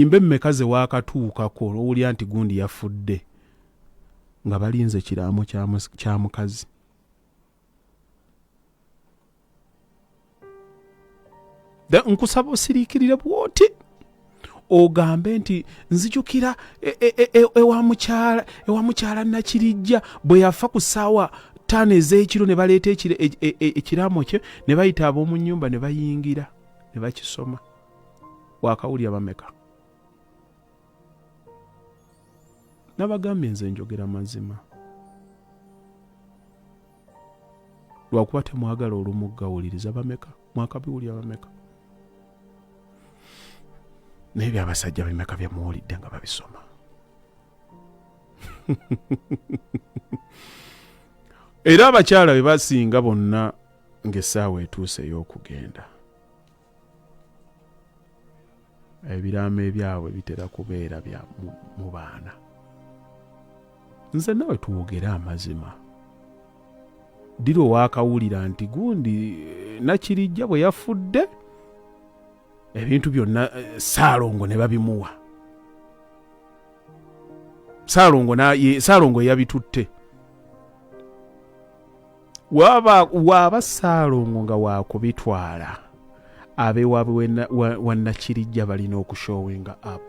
Ennyimba emmeka ze waakatuukako n'owulira nti gundi yafudde nga balinze kiraamo kya mukazi? Nkusaba osiriikirire bw'oti ogambe nti nzijukira e, e, e, ewa mukyala nakirijja bwe yafa ku ssaawa ttaano ez'ekiro ne baleeta ekiraamo kye ne bayita ab'omu nnyumba ne bayingira ne bakisoma. wakawulira bameka nabagambye nze njogera mazima lwakuba temwagala olumu gawuliriza bameka mwakabiwulira bameka naye byabasajja bimeka byemuwulidde nga babisoma era abakyala be basinga bonna ng'essaawa etuuse ey'okugenda ebiraamo ebyabwe bitera kubeera bya mu baana nze nawe twogere amazima dira owakawulira nti gundi eh, nakirijja bwe yafudde ebintu byonna eh, saalongo ne babimuwa saalongo saalongo yabitutte waaba saalongo nga wakubitwala abewaabwe wannakirijja balina okushowinga app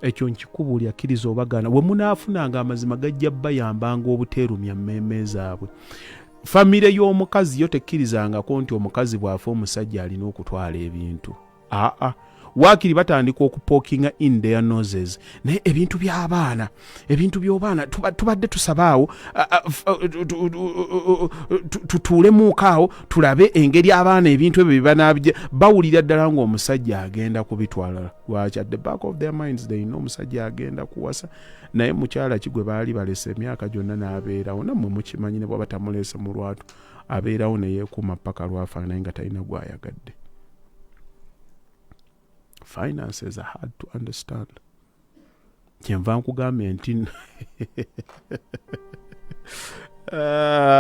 ekyo nkikubuuli akkiriza obagaana we munaafunanga amazima gajja bayambanga obuteerumya mmeeme zaabwe famire y'omukazi yo tekkirizangako nti omukazi bw'afa omusajja alina okutwala ebintu aa ah, ah. waakiri batandika okupookinga in their noses naye ebintu by'abaana ebintu by'obaana tubadde tusabaawo tutuulemuuko awo tulabe engeri abaana ebintu ebyo byebanabija bawulira ddala ng'omusajja agenda kubitwalala lwaki at the back of their minds they know omusajja agenda kuwasa naye mukyala ki gwe baali balesa emyaka gyonna n'abeerawo nammwe mukimanyi ne bwaba tamuleese mu lwatu abeerawo neyeekuuma paka lwafaanaye nga talina gwayagadde finances are hard to understand kyenva nkugambye nti